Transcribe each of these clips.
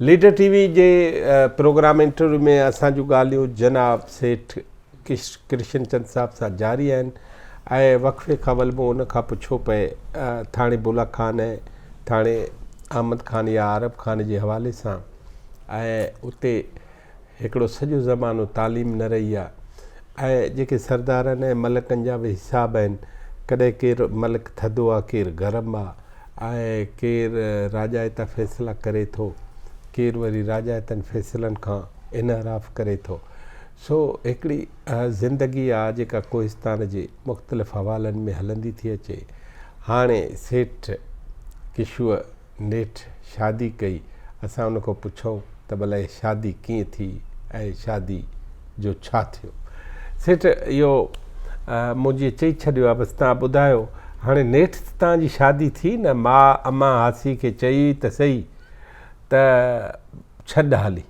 Leader TV وي جي program interview ۾ اسان جون ڳالهيون جناب سيٺ ڪرشن چند صاحب سان جاري آهن ۽ وقفي کان ول مون ان کان پڇو پئي ٿاڻي بولا خان ۽ ٿاڻي احمد خان يا عرب خان جي حوالي سان ۽ اتي هڪڙو سڄو زمانو تعليم نه رهي آ ۽ جيڪي سردارن ۽ ملڪن جا به حساب آهن ڪڏهن ڪير ملڪ ٿڌو آ ڪير گرم آ ۽ ڪير راجائتا فيصلا ڪري ٿو ڪير وري راجائتن فيصلن کان انحراف ڪري ٿو سو هڪڙي اها زندگي آ جيڪا ڪوهستان جي مختلف حوالن ۾ هلندي ٿي اچي هاڻي سيٺ ڪشوء نيٺ شادي ڪئي. اسان ان کان پڇيو ته ڀلا هي شادي ڪيئن ٿي ۽ شادي جو ڇا ٿيو؟ سيٺ اهو منهنجي چئي ڇڏيو آهي، بس توهان ٻڌايو هاڻي نيٺ ته توهان جي شادي ٿي نه؟ ماء امان هاسي کي چئي ته سهي ته ڇڏ هالي.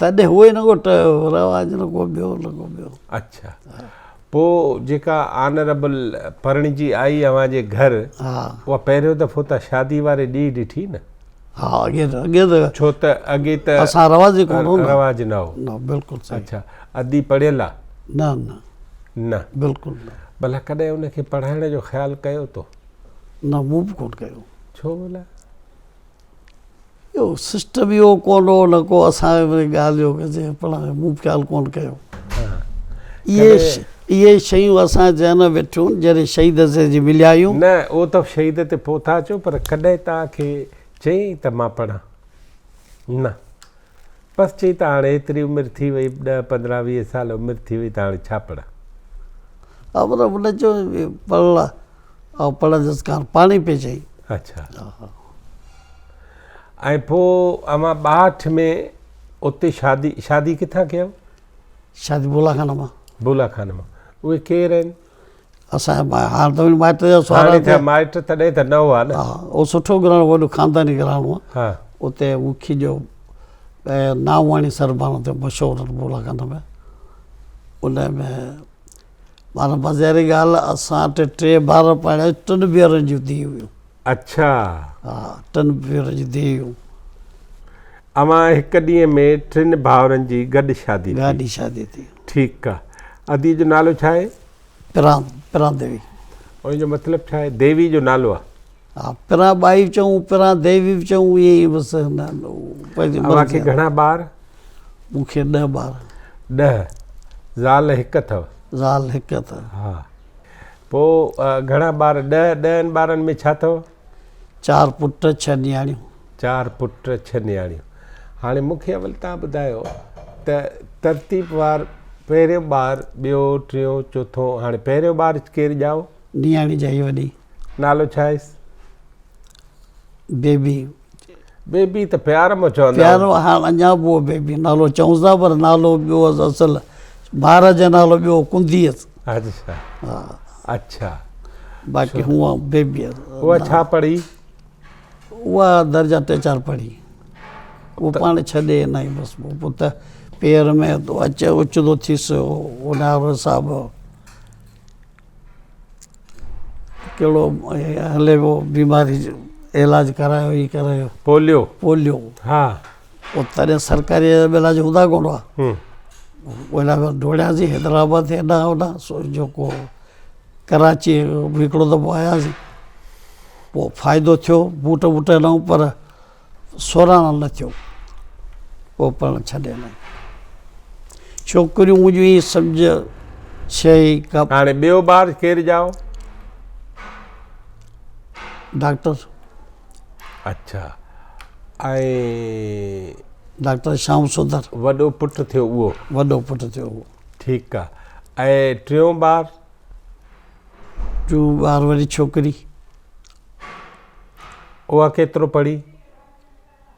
تڏهن اهو ئي نه ڳوٺ هيو رواج نه ڪو ٻيو نه ڪو ٻيو. اڇا پوء جيڪا آنربل پرڻجي آئي اوهان جي گهر اها پهريون دفعو ته شادي واري ڏينهن ڏٺي نه؟ ها اڳي ته اڳي ته ڇو ته اڳي ته اسان رواج ئي ڪونه هو نه رواج نه هو نه بلڪل صحيح اڇا ادي پڙهيل آ؟ نه نه نه بلڪل نه ڀلا ڪڏهن ان کي پڙهائڻ جو خيال ڪيو تو؟ نه مون به ڪونه ڪيو ڇو ڀلا؟ اهو سسٽم ئي اهو ڪونه هو نه ڪو اسان ۾ ڳالهه جو ڪجي پڻ مون خيال ڪونه ڪيو اهي شيون اسان ذهن ۾ ويٺيون جڏهن شهيد سي جي مليا آهيون نه اهو ته شهيد تي پهتا اچو پر ڪڏهن توهان کي چيائين ته مان پڙهان نه بس چئي ته هاڻي ايتري عمر ٿي وئي، ڏهه پندرهن ويهه سال عمر ٿي وئي ته هاڻي ڇا پڙهان؟ آمر ابن چيو پڙهڻ لاء آئون پڙهندس ڪان، پاڻهي پئي چئي. اڇا ۽ پوء اوهان ٻاهٺ ۾ اتي شادي، شادي ڪٿان ڪيو؟ شادي بولا خان مان. بولا خان مان اهي ڪير آهن؟ اسان جا هاڻ ته مائٽ جا سوال هاڻي ٿيا مائٽ تڏهن ته نه هئا نه ها اهو سٺو گهراڻو وڏو خانداني گهراڻو آهي ها اتي مکي جو ناوواڻي سربان اتي مشهور بولا خانه ۾ ان ۾ مانا مزي واري ڳالهه اسان ٽي ٽي ٻار پرڻيا ٽن ڀينرن جون ڌيئون هيون اڇا. ها ٽن ڀيرن جي ديو. اوهان هڪ ڏينهن ۾ ٽن ڀائرن جي گڏ شادي ٿي. گڏ شادي ٿي. ٺيڪ آ. ادي جو نالو ڇا آهي؟ پران پران ديوي. ان جو مطلب ڇا آهي؟ ديوي جو نالو آ. ها پران ٻائي به چئون پران ديوي به چئون ائين ئي بس پنهنجي اوهان کي گهڻا ٻار؟ مون کي ڏهه ٻار. ڏهه. زال هڪ اٿو؟ زال هڪ اٿو. ها. پوء گهڻا ٻار؟ ڏهه. ڏهن ٻارن ۾ ڇا اٿو؟ چار پٽ، ڇهه نياڻيون. چار پٽ، ڇهه نياڻيون. هاڻي مون کي اول تان ٻڌايو ته ترتيب وار پهريون ٻار، ٻيو، ٽيون، چوٿون. هاڻي پهريون ٻار ڪير ڄائو؟ نياڻي ڄائي وڏي. نالو ڇا هيس؟ بيبي. بيبي ته پيار ۾ چوندا هئا. پيار ۾ هاڻ اڃا به هو بيبي نالو چئون ٿا پر نالو ٻيو هئس اصل مھاراج جو نالو ٻيو هو ڪنڌي هئس. اچھا اچھا. باقي هونء بيبي هئس. هوء ڇا پڙهي؟ هوء درجا ٽي چار پڙهي. هوء پاڻ ڇڏي هي نائين بس پوء پٽ پير ۾ اچ اچ ٿو ٿيس هو نارو صاحب. ڪهڙو هلي پيو بيماري جو علاج ڪرايو هي ڪرايو پوليو پوليو ها او تڏهن سرڪاري علاج هوندا ڪون هئا ولا ڊوڙياسي حيدرآباد تي اڏا اڏا سو جيڪو ڪراچي هڪڙو دفعو آياسي پوء فائدو ٿيو بوٽ ووٽ هنئون پر سوراڻ نه ٿيو پوء پڙهڻ ڇڏي ڏنائين. ڇوڪريون هجون هي سمجهه شيء ڪا. هاڻي ٻيو ٻار ڪير ڄائو؟ ڊاڪٽر. اڇا ۽. ڊاڪٽر شام سندر. وڏو پٽ ٿيو اهو. وڏو پٽ ٿيو اهو. ٺيڪ آ ۽ ٽيون ٻار. ٽيون ٻار وري ڇوڪري. اها ڪيترو پڙهي؟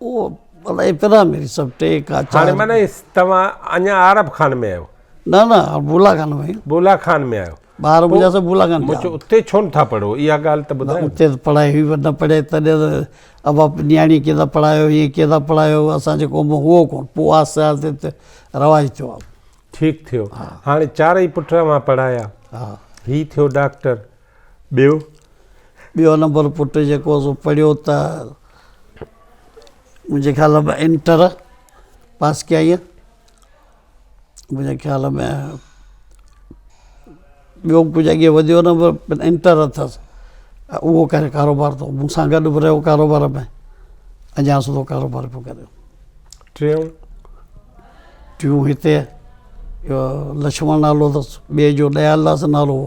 اهو مطلب ابتدا ۾ سڀ ٽي کا چار هاڻي معنی توهان اڃا عرب خان ۾ آهيو نه نه بولا خان ۾ بولا خان ۾ آهيو ٻار منهنجا سڀ بولا خان جا اتي ڇو نه ٿا پڙهو اها ڳالهه ته ٻڌايو اتي ته پڙهائي هئي پر نه پڙهي تڏهن ته ابا نياڻي ڪيئن ٿا پڙهايو هيئن ڪيئن ٿا پڙهايو اسان جي قوم ۾ هئو ڪونه پوء آهستي آهستي ته رواج ٿيو ٺيڪ ٿيو هاڻي چارئي پٽ اوهان پڙهايا هي ٿيو ڊاڪٽر ٻيو؟ ٻيو نمبر پٽ جيڪو هو سو پڙهيو ته منهنجي خيال ۾ انٽر پاس ڪيائين منهنجي خيال ۾ ٻيو به ڪجهه اڳي وڌيو نه پر انٽر اٿس اهو ڪري ڪاروبار تو مون سان گڏ به رهيو ڪاروبار ۾ اڃا سڌو ڪاروبار پيو ڪري ٽيون؟ ٽيون هتي لڇمڻ نالو اٿس ٻئي جو ڏيالداس نالو هو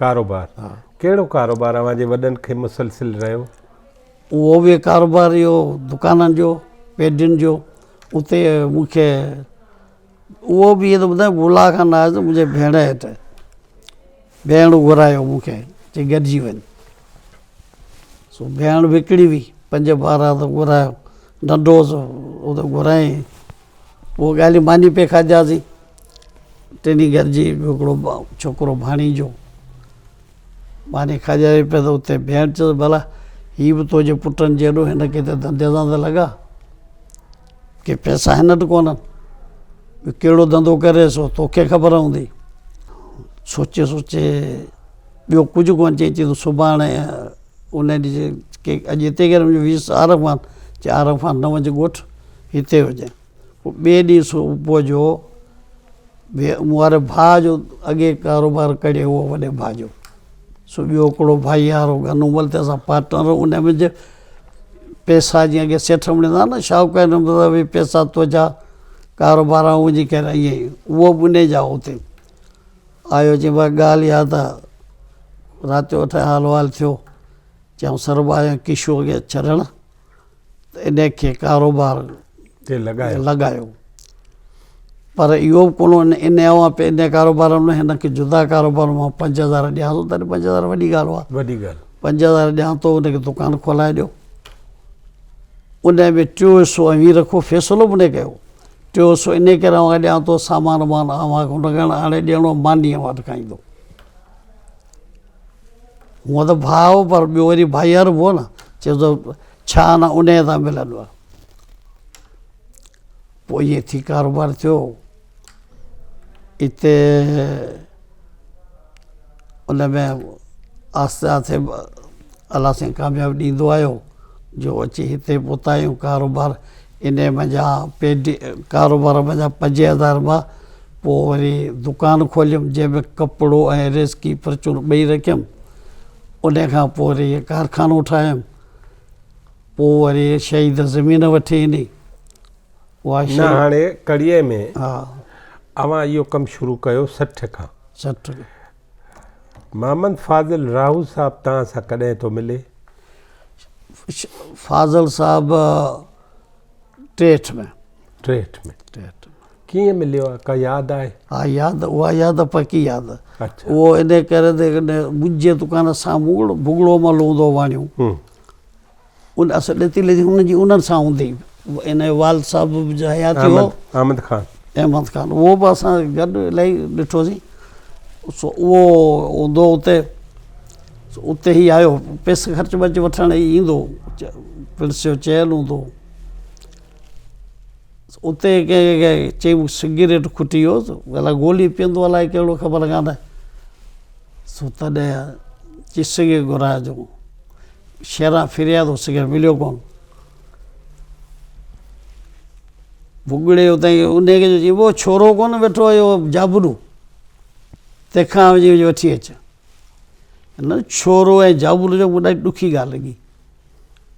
ڪاروبار، ڪهڙو ڪاروبار اوهان جي وڏن کي مسلسل رهيو؟ اهو به ڪاروبار اهو دڪانن جو پيڊين جو اتي مون کي اهو به ائين ٻڌايان بلا کان نه آيس منهنجي ڀيڻ هيٺ ڀيڻ گهرايو مون کي چي گڏجي وڃ سو ڀيڻ به هڪڙي هئي پنج ٻار هئا ته گهرايو ننڍو هوس گهرايائين اهي ڳالهيون ماني پئي کاڌياسين. ٽنهي گهر جي هڪڙو ڇوڪرو ڀاڻيجو ماني کاڌياسين پئي ته اتي ڀيڻ چيس ڀلا هي به تنهنجي پٽن جهڙو هن کي ته ڌنڌي سان ته لڳا. ڪي پئسا هن وٽ ڪونهن. ٻيو ڪهڙو ڌنڌو ڪري سو توکي خبر هوندي. سوچي سوچي ٻيو ڪجهه ڪونه چئي چيائين ته سڀاڻي ان ڏينهن اڄ هتي گهر ۾ ويس عارف خان چيائين عارف خان نه وڃ ڳوٺ. هتي هجن. پوء ٻئي ڏينهن صبح جو واري ڀاء جو اڳي ڪاروبار ڪڙي اهو وڏي ڀاء جو سو ٻيو هڪڙو ڀائي هارو گهنو مل تنهن سان پارٽنر ان منجهه پئسا جيئن اڳي سيٺ وڻيندا هئا نه شاهوڪار نمبر سان اهي پئسا تنهنجا ڪاروبار آئون وڃي ڪريان ائين ئي اهو به انهي جا اتي آيو چيم ڀاء ڳالهه اها ته رات جو اٺ حال وال ٿيو چيائون سربا آيا ڪشو اڳي ڇڏڻ ته ان کي ڪاروبار تي لڳايو پر اهو به ڪونه ان ان اوهان پي ان ڪاروبار ۾ هن کي جدا ڪاروبار مان پنج هزار ڏيان ٿو تڏهن پنج هزار وڏي ڳالهه هئا وڏي ڳالهه پنج هزار ڏيان ٿو ان کي دڪان کولائي ڏيو ان ۾ ٽيو حصو اوهين رکو فيصلو به نه ڪيو ٽيو حصو ان ڪري اوهان ڏيان ٿو سامان وامان اوهان کي ان کي آڻي ڏيڻو ماني اوهان کي کائيندو هونء ته ڀاء هو پر ٻيو وري ڀائيار به هو نه، چيس ته ڇا انا انهيء سان ملندو آهي. پوء ائين ٿي ڪاروبار ٿيو. اتي ان ۾ آهستي آهستي الله سائين ڪاميابي ڏيندو آيو جو اچي هتي پهتا آهيون ڪاروبار انهيء منجهان پيڊي ڪاروبار منجهان پنجين هزارين مان پوء وري دڪان کوليم، جنهن ۾ ڪپڙو ۽ ريسڪي پرچون ٻئي رکيم. انهيء کان پوء وري هيء ڪارخانو ٺاهيم. پوء وري شهيد زمين وٺي ڏني. اها نه شهيد. هاڻي ڪڙيء ۾ ها. اوهان اهو ڪم شروع ڪيو سٺ کان. سٺ کان. محمد فاضل راهو صاحب توهان سان ڪڏهن ٿو ملي؟ فاضل صاحب ٽيهٺ ۾ ٽيهٺ ۾ ٽيهٺ ڪيئن مليو آهي ڪا ياد آهي ها ياد اها ياد پڪي ياد اهو ان ڪري منهنجي دڪان سامهون بگڙو مل هوندو واڻيو ان اثر ڏتي ليکي ان جي انهن سان هوندي ان جو والد صاحب به جو حياتي هو احمد خان احمد خان اهو به اسان گڏ الائي ڏٺوسين سو اهو هوندو اتي اتي هي آيو پيسي خرچ ورچ وٺڻ هي ايندو پرنس جو چيل هوندو اتي چئي سگريٽ کٽي ويو الاء گولي پيئندو الاء ڪهڙو خبر ڪانه سو تڏهن چئي سگريٽ گهرايو جو شرح فرياد هو سگهر مليو ڪونه. ڀڳڙي اتان انهيء کي چيو، اهو ڇورو ڪونه ويٺو آهي، اهو جابلو. تنهن کان وڃي وڃي وٺي اچ. هن ڇورو ۽ جابلو جو ڏاڍي ڏکي ڳالهه لڳي.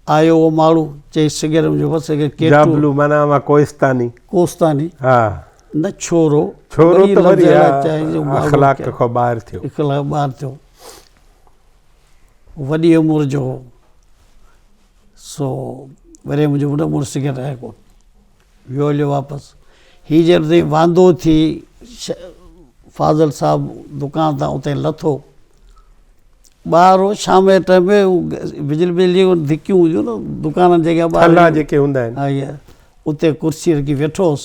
آيو اهو ماڙو، چيس سگهر مليو ڪونه، سگهر ڪيترو. جابلو معنيٰ اها ڪوهستاني. ڪوهستاني. ها. نه ڇورو. ڇورو ته وري اخلاق کان ٻاهر ٿيو. اخلاق کان ٻاهر ٿيو. وڏي عمر جو هو، سو وري منهنجو وڏو مڙس سگهي رهي ڪو ويو هليو واپس. هي جڏهن اتي واندو ٿي فاضل صاحب دڪان تان اتي لٿو، ٻاهر هو شام جي ٽائيم ۾ بجلي بجلي جون ڌڪيون هونديون آهن دڪانن جي اڳيان ٿلها جيڪي هوندا آهن اتي ڪرسي رکي ويٺو هوس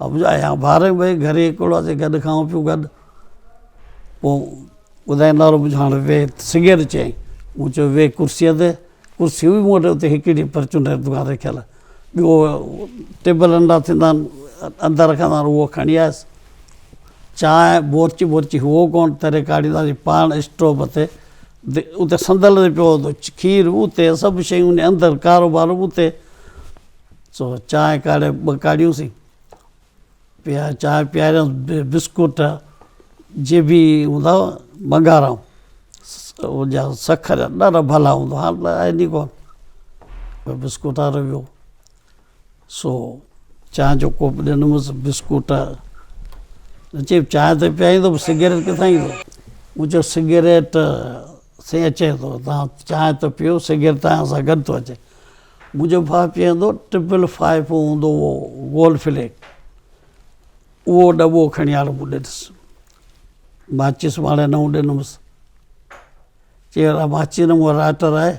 ابجايان باري بي گهري ڪوڙا سي گڏ کائون پيون گڏ پو ٻڌايان نارو ٻڌ هاڻي ويهه سگهير چيائين مون چيو ويهه ڪرسيء تي ڪرسي هئي مون وٽ اتي هڪڙي پرچون ڏيڻ دڪان رکيل ٻيو ٽيبل ننڍا ٿيندا آهن اندر رکندا آهن اهو کڻي آيس چانهه بورچي بورچي هئو ڪونه تري ڪاڙهينداسين پاڻ اسٽوپ تي اتي صندل تي پيو هوندو کير اتي سڀ شيون اندر ڪارو ٻارو اتي سو چانهه ڪاڙهي ٻه ڪاڙهيونسين، پياري چانهه پياريانس، بسڪوٽ جي به هوندا هئا ٻنگارائون، ان جا سکر ڏاڍا ڀلا هوندا هئا، هاڻ ته آهن ئي ڪونه پر بسڪوٽ وارو به هو، سو چانهه جو ڪوپ ڏنمس، بسڪوٽ، چيم چانهه ته پياريندو پر سگريٽ ڪٿان ايندو؟ مون چيو سگريٽ سائين اچي ٿو، توهان چانهه ته پيو سگريٽ توهان سان گڏ ٿو اچي. منهنجو ڀاء پيئندو ٽرپل فائيو هوندو هو گولڊ فليڪ اهو ڏٻو کڻي آيو مون ڏنس ماچس ماڙي نئون ڏنمس چي اها ماچي نه مون لائٽر آهي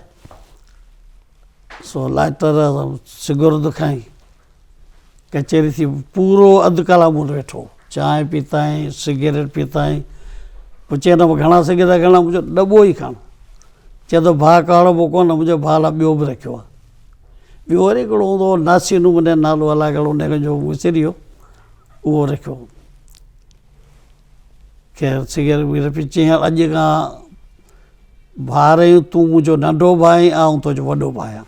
سو لائٽر سگرد کائين ڪچهري ٿي پورو اڌ ڪلاڪ مون وٽ ويٺو چانهه پيتائين سگريٽ پيتائين پوء چيو نه گهڻا سگهي ٿا گهڻا منهنجو ڏٻو ئي کڻ چئي ٿو ڀاء ڪاڙو ڀوڪو نه منهنجو ڀاء لاء ٻيو به رکيو آهي ٻيو وري هڪڙو هوندو هو ناسي نموني نالو الاء ڪهڙو هن جو وسري ويو اهو رکيو هو خير سگريٽ وغيره پي چيائين اڄ کان ڀاء رهيون تون منهنجو ننڍو ڀاء آئون تنهنجو وڏو ڀاء آهيان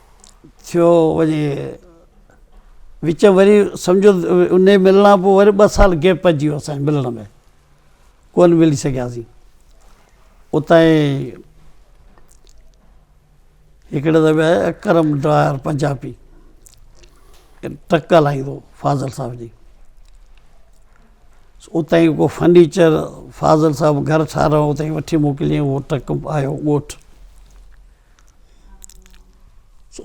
ٿيو وڃي وچ ۾ وري سمجھو ان جي ملڻ کان پوء وري ٻه سال گيپ پئجي ويو اسان جي ملڻ ۾ ڪونه ملي سگھياسين اتان جي هڪڙي دفعي آيو اڪرم ڊار پنجابي ٽرڪ هلائيندو هو فاضل صاحب جي اتان جي ڪو فرنيچر فاضل صاحب گھر ٺاهرايو اتان کان وٺي موڪليائون هو ٽرڪ آيو ڳوٺ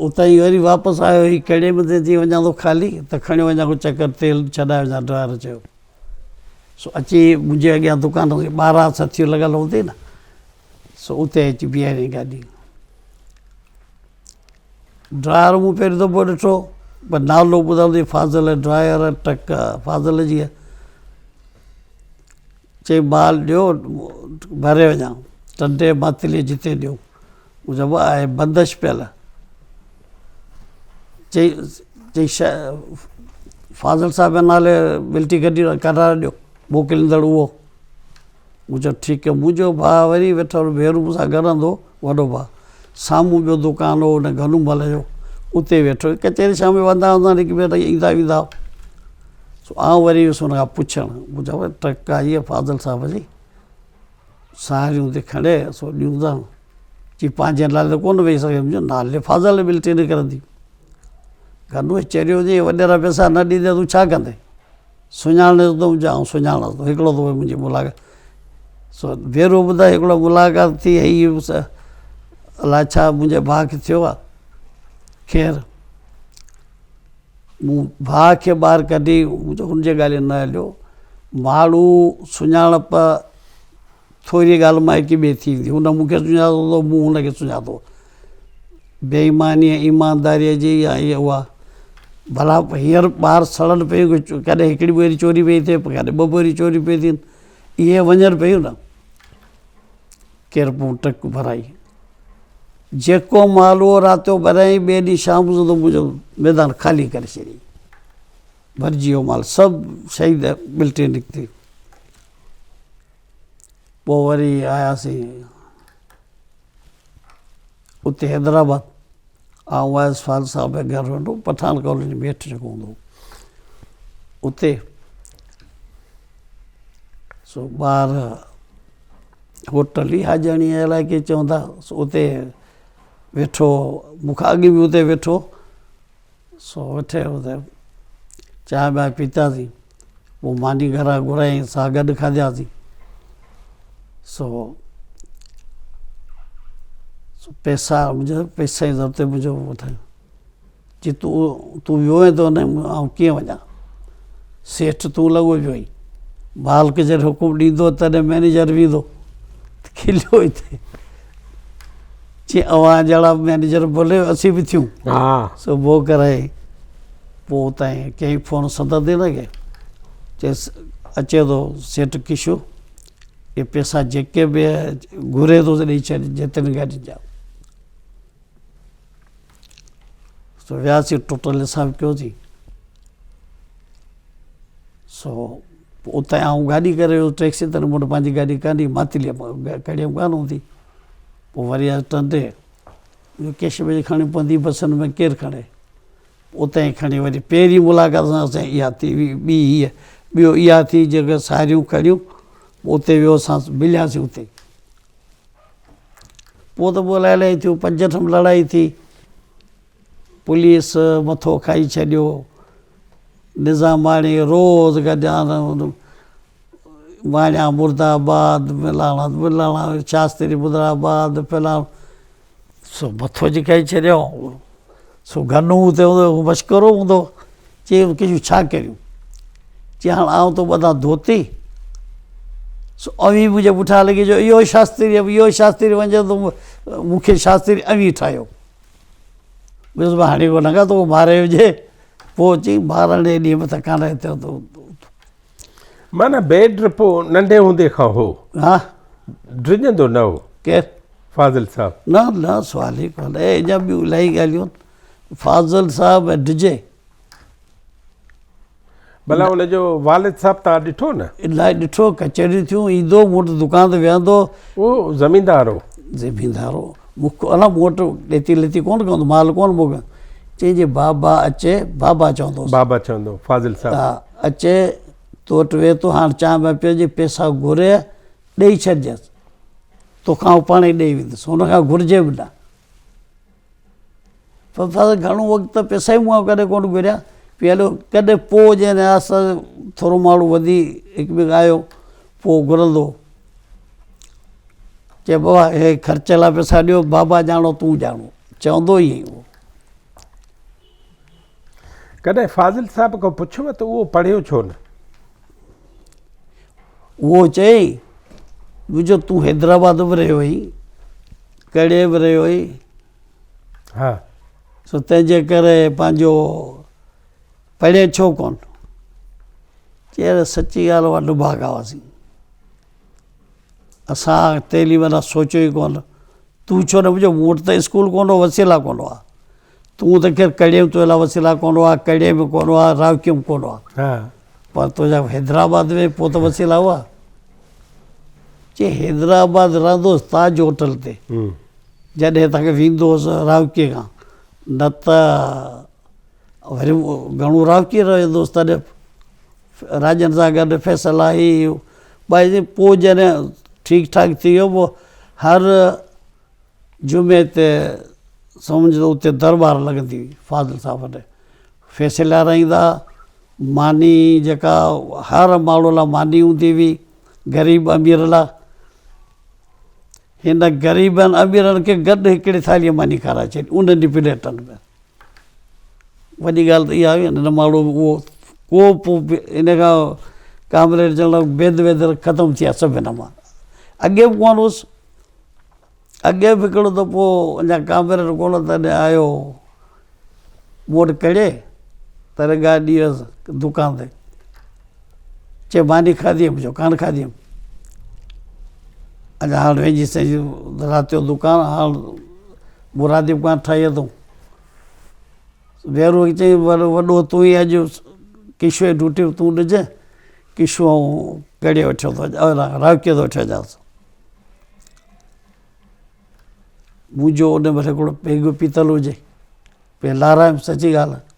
اتان هي وري واپس آيو هي ڪهڙي به تي ٿي وڃان ٿو خالي ته کڻي وڃان ڪو چڪر تيل ڇڏائي وڃان ڊرائيور چيو سو اچي منهنجي اڳيان دڪان تي ٻارهن سٿيون لڳل هوندي نه سو اتي اچي بيهاريائين گاڏي ڊرائيور مون پهريون دفعو ڏٺو پر نالو ٻڌل هئي فاضل ڊرائيور ٽڪ فاضل جي چئي مال ڏيو ڀري وڃان. ٽنڊي ماتلي جتي ڏيو. مون چيو آء بندش پيل. چئي فاضل صاحب جي نالي ملٽري گڏي ڪرار ڏيو موڪليندڙ اهو. مون چيو ٺيڪ آهي. منهنجو ڀاء وري ويٺل ڀيرو مون سان گڏ هلندو هو. وڏو ڀاء، سامهون ٻيو دڪان هو، هن گنو مل جو، اتي ويٺو هو. ڪچهري شام جو وهندا هوندا هئا، هڪ ٻئي وٽ ايندا ويندا هئا. سو آئون وري ويس هن کان پڇڻ، مون چيو ڀاء ٽڪ آئي آهي فاضل صاحب جي، ساهريون ٿي کڻي سو ڏيوندانء. چي پنهنجي نالي ته ڪونه ويهي سگهنديون، مون چيو نالي فاضل جي ٻلٽي نڪرندي. گنوء چريو چيائين وڏيرا پئسا نه ڏيندين ته تون ڇا ڪندين؟ سڃاڻي ٿو ته آئون سڃاڻان ٿو هڪڙو دفعو منهنجي ملاقات ديرو ٻڌائي هڪڙو ملاقات ٿي هئي الاء ڇا منهنجي ڀاء کي ٿيو آهي خير مون ڀاء کي ٻاهر ڪڍي هن جي ڳالهين نه هليو ماڻهو سڃاڻپ ٿوريء ڳالهه مان هڪ ٻئي ٿي ويندي. هن مون کي سڃاتو ته مون هن کي سڃاتو. بي ايمانيء ۽ ايمانداريء جي ئي آهي اها. ڀلا هينئر ٻار سڙن پيون ڪي ڪڏهن هڪڙي ٻوري چوري پئي ٿئي ڪڏهن ٻه ٻوريون چوريون پيون ٿين. اهي وڃن پيون نه. ڪير پون ٽڪ ڀرائي. جيڪو مال اهو رات جو ڀريائين ٻئي ڏينهن شام جو ته منهنجو ميدان خالي ڪري ڇڏيائين. ڀرجي ويو مال سڀ شهيد ملٽري نڪتي. پوء وري آياسين اتي حيدرآباد آئون وائس فال صاحب جي گهر هوندو هو پٺاڻ ڪالوني ۾ هيٺ جيڪو هوندو هو اتي سو ٻار هوٽل ئي حاجڻي الائي ڪيئي چوندا سو اتي ويٺو مون کان اڳ به اتي ويٺو سو ويٺي اتي چانهه ٻانهه پيتاسين پوء ماني گهران گهرايائين سا گڏ کاڌياسين سو پئسا منهنجا پئسا جي ضرورت منهنجو ٻڌايو جي تون تون ويو آهين ته آئون ڪيئن وڃان سيٺ تون لڳو پيو آهين مالڪ جڏهن حڪم ڏيندو تڏهن مئنيجر ويندو کليو اتي چيائين اوهان جهڙا مئنيجر ڀلي اسين به ٿيون سو بوء ڪرائي پوء اتان ڪيائين فون صدر دينا کي چيس اچي ٿو سيٺ ڪشو اهي پيسا جيڪي به گهري ٿو ڏئي ڇڏ جتن گاڏي جا سو وياسين ٽوٽل حساب ڪيوسين سو اتان آئون گاڏي ڪري ويو ٽيڪسي تي مون وٽ پنهنجي گاڏي ڪانه هئي ماتليء مان ڪڍيم ڪانه هوندي پوء وري اچ ٽنڊي جو ڪيش ۾ کڻي پوندي بسن ۾ ڪير کڻي اتان ئي کڻي وري پهرين ملاقات سان اسان جي اها ٿي ٻي هيء ٻيو اها ٿي جيڪي ساريون کڻيون اتي ويو اسان ملياسين اتي ئي پوء ته پوء الائي الائي ٿيو پنج ٺم لڙائي ٿي پوليس مٿو کائي ڇڏيو. نظاماڻي روز گڏيان ماڻيان مرد آباد ملاڻا ملاڻا شاستري مدر آباد فلاڻو سو مٿو جي کائي ڇڏيو سو گنو اتي هوندو هو مشڪرو هوندو چي ڪجون ڇا ڪريون چي هاڻ آئون تو ٻڌان ڌوتي سو اوهين منهنجي پٺيان لڳي جو اهو شاستري اهو شاستري وڃي تو مون کي شاستري اوهين ٺاهيو ڏس مان هاڻي ڪو لڳا تو ماري هجي پوء اچي مارڻ جي ڏينهن به ٿڪان رهي ٿيو تو معنی بيڊ ڊرپو ننڍي هوندي کان هو ها ڊڄندو نه هو ڪير فاضل صاحب نه نه سوال ئي ڪونهي اڃا ٻيون الاهي ڳالهيون فاضل صاحب ڊڄي ڀلا ان جو والد صاحب توهان ڏٺو نه؟ الاء ڏٺو، ڪچهريون ٿيون، ايندو، مون وٽ دڪان تي ويهندو. اهو زميندار هو. زميندار هو. مون کي الاء مون وٽ ڏيتي ليتي ڪونه ڪندو، مال ڪونه موڪليو. چيائين جي بابا اچي، بابا چوندو هوس. بابا چوندو هو، فاضل صاحب. ها، اچي تو وٽ ويهي ٿو، هاڻ چانهه بانهه پيئجي، پئسا گهري ڏئي ڇڏجانس. توکان هو پاڻهي ڏئي ويندس، هن کان گهرجي به نه. فضل گهڻو وقت ته پيسا ئي مون کان ڪڏهن ڪونه گهريا پي هليو ڪڏهن پوء جنهن نياز سان ٿورو ماڙو وڌي هڪ ٻئي کان آيو پوء گهرندو هو چئي بابا هي خرچ لاء پيسا ڏيو بابا ڄاڻو تون ڄاڻو چوندو ئي هئي اهو ڪڏهن فاضل صاحب کان پڇيو ته اهو پڙهيو ڇو نه؟ اهو چيائين جو تون حيدرآباد به رهيو آهين ڪهڙي به رهيو آهين ها سو تنهن جي ڪري پنهنجو پڙهين ڇو ڪون چير سچي ڳالهه اها ڊڀاڳا هئاسين اسان تعليم لاء سوچيو ئي ڪون تون ڇو نه مون وٽ ته اسڪول ڪون هو وسيلا ڪون هئا تون ته کير ڪڙيم تو لاء وسيلا ڪون هئا ڪڙي به ڪون هئا راوڪيم ڪون هئا پر تنهنجا حيدرآباد ۾ پوء ته وسيلا هئا چي حيدرآباد رهندو هوس تاج هوٽل تي جڏهن هتان کي ويندو هوس راوڪي کان نه ته وري گهڻو راوڪي رهندو هوس تڏهن راڄن سان گڏ فيصل آهي ٻائي پوء جڏهن ٺيڪ ٺاڪ ٿي ويو پوء هر جمعي تي سمجهه ته اتي درٻار لڳندي فاضل صاحب وٽ ڦيسي لارائيندا ماني جيڪا هر ماڻهو لاء ماني هوندي هئي غريب امير لاء هن غريبن اميرن کي گڏ هڪڙي ٿالهي ماني کارائي ڇڏي ان ڏينهن پليٽن ۾ وڏي ڳالهه ته اها هئي هن ماڻهو به اهو ڪوپ ان کان ڪامريڊ جنرل بيد ويد ختم ٿي ويا سڀ هن مان اڳي به ڪونه هوس اڳي به هڪڙو دفعو اڃا ڪامريڊ ڪونه تڏهن آيو هو، مون وٽ ڪڙي ته رنگائي ڏي ويس دڪان تي، چئي ماني کاڌي هئم، مون چيو ڪانه کاڌي هئم، اڃا هاڻ ويجهي سيجهي رات جو دڪان هاڻ مرادي به ڪانه ٺاهي اٿئون. ويرو چئي وڏو تون ئي اڄ ڪشوء جي ڊيوٽي به تون ڏجانء، ڪشو ڪڙي وٺيو ٿو اڄ راکي تي وٺي اچانس. مون جو ان مھل ھڪڙو پيگ به پيتل ھجي پئي لارائم سچي ڳالھ آھي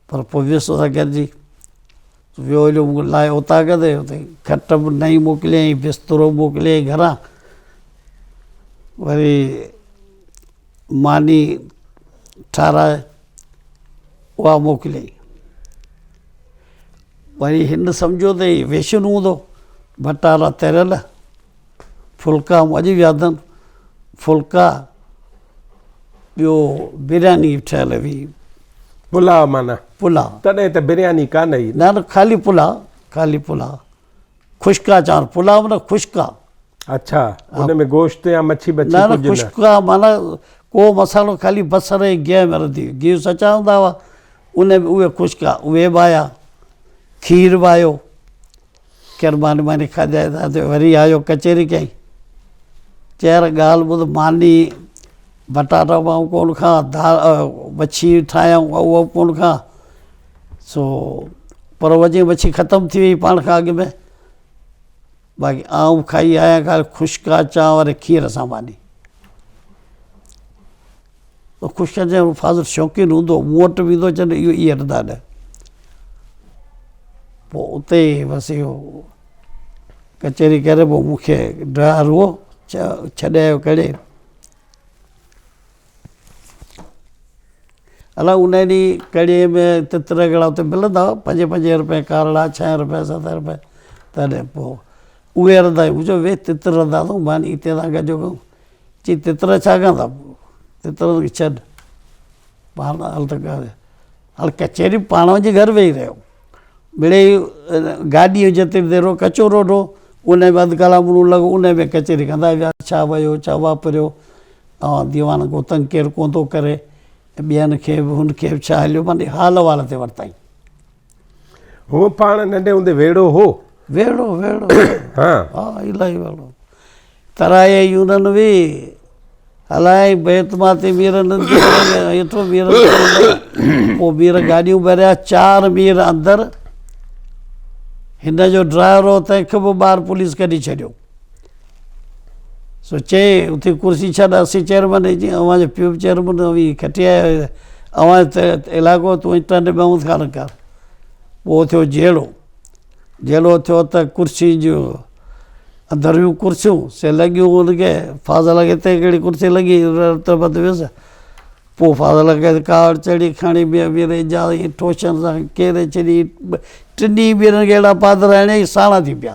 پر پوء ويس سان گڏجي ويو ھليو مون کي لايو اتان ڪيدائين اتي کٽ به نئين موڪليائين بسترو به موڪليائين گھران وري ماني ٺاراھي اھا موڪليائين وري هن سمجهيو ته هي ويشن هوندو، ڀٽارا تريل ڦلڪا مون اڄ به ياد آهن، ڦلڪا ٻيو برياني ٺهيل هئي. پلاء معنيٰ؟ پلاء. تڏهن ته برياني ڪانه هئي نه؟ نه نه خالي پلاء، خالي پلاء. خشڪ آ چانور پلاء معنيٰ خشڪ آ. اڇا ان ۾ گوشت يا مڇي بڇي ڪجهه نه. نه نه خشڪ آ معنيٰ ڪو مصالحو خالي بصر ۽ گيهه ۾ رڌي گيهه سچا هوندا هئا ان ۾ اهي خشڪ آ اهي به آيا کير به آيو کير ماني ماني کاڌائين ٿا ته وري آيو ڪچهري ڪئين چي يار ڳالهه ٻڌ ماني بٽاٽا به آئون ڪونه کان دال مڇي ٺاهيائون اهو به ڪونه کان سو پر وڄي مڇي ختم ٿي وئي پاڻ کان اڳ ۾ باقي آئون کائي آيا کان خشڪا چانور کير سان ماني خشڪا چانور فاضل شوقين هوندو مون وٽ به ايندو چوندو اهو اي هٽندا نه پوء اتي بس اهو ڪچهري ڪري پوء مون کي ڊرائر هو ڇڏي آيو ڪڙي الاء ان ڏينهن ڪڙي ۾ تتر ڪهڙا اتي ملندا هئا پنجين پنجين رپين ڪارڙا ڇهين رپين ستين رپين تڏهن پو اهي رڌا هيون مون چيو ويهه تتر رڌا اٿئون مان هتي سان گڏجو ڪيون چي تتر ڇا ڪندا تتر کي ڇڏ پاڻ هل ته ڪاري هاڻي ڪچهري پاڻ وڃي گهر ويهي رهيو مڙيئي گاڏي جو جيتري دير هو ڪچو روڊ هو ان ۾ اڌ ڪلاڪ مون لڳو ان ۾ ڪچهري ڪندا ويا ڇا ويو ڇا واپريو اوهان ديوان گوتنگ ڪير ڪون ٿو ڪري ۽ ٻين کي به هن کي به ڇا هليو معني حال احوال تي ورتائين. هو پاڻ ننڍي هوندي ويڙهو هو. ويڙهو ويڙهو ها ها الاهي ويڙهو ترائي يونن وي هلائين بيت ماتي مير نندي هيٺو مير پو مير گاڏيون ڀريا چار مير اندر هن جو ڊرائيور هو تنهن کي به ٻاهر پوليس ڪڍي ڇڏيو. سو چيائين، اتي ڪرسي ڇا ڏاسي چيئرمن جي، جي اوهان جو پيء به چيئرمن هو، اوهين کٽي آيا آهيو، اوهان جو علائقو ته اوهين ٽنڊ ۾ هوند خانه ڪار. پوء ٿيو جهيڙو، جهيڙو ٿيو ته ڪرسي جون اندريون ڪرسيون سي لڳيون ان کي، فاضل کي اتي ڪهڙي ڪرسي لڳي، رتبت ويس، پوء فاضل کي ڪاوڙ چڙهي کڻي ميان مير اعجاز کي ٽوشن سان ڪيري ڇڏي، ٽنهي ڀيرن کي اهڙا پاڌرا هڻيائين ساڻا ٿي پيا.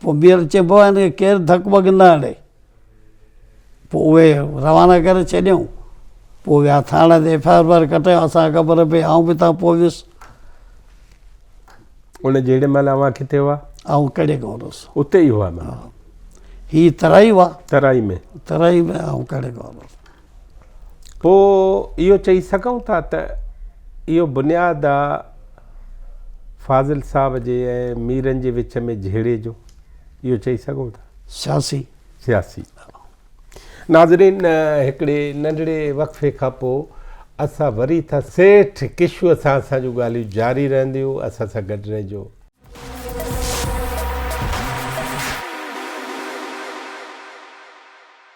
پوء ٻيهر چئبو آهي هن کي ڪير ڌڪ وڳ نه هڻي. پوء اهي روانا ڪري ڇڏيائون. پوء ويا ٿاڻي تي ايف آء آر بار ڪٽايو اسان کي خبر پئي آئون به اتان پوء ويس. ان جهڙي مهل اوهان ڪٿي هئا؟ آئون ڪڙي گاون هوس. اتي ئي هئا معنيٰ. هي ترائي هئا. ترائي ۾. ترائي ۾ آئون ڪڙي گاون هوس. پوء اهو چئي سگهون ٿا ته اهو بنياد آ فاضل صاحب جي ۽ ميرن جي وچ ۾ جهيڙي جو. اهو چئي سگهون ٿا. سياسي. سياسي. ناظرين هڪڙي ننڍڙي وقفي کان پوء اسان وري ٿا سيٺ ڪشو سان اسان جون ڳالهيون جاري رهنديون اسان سان گڏ رهجو.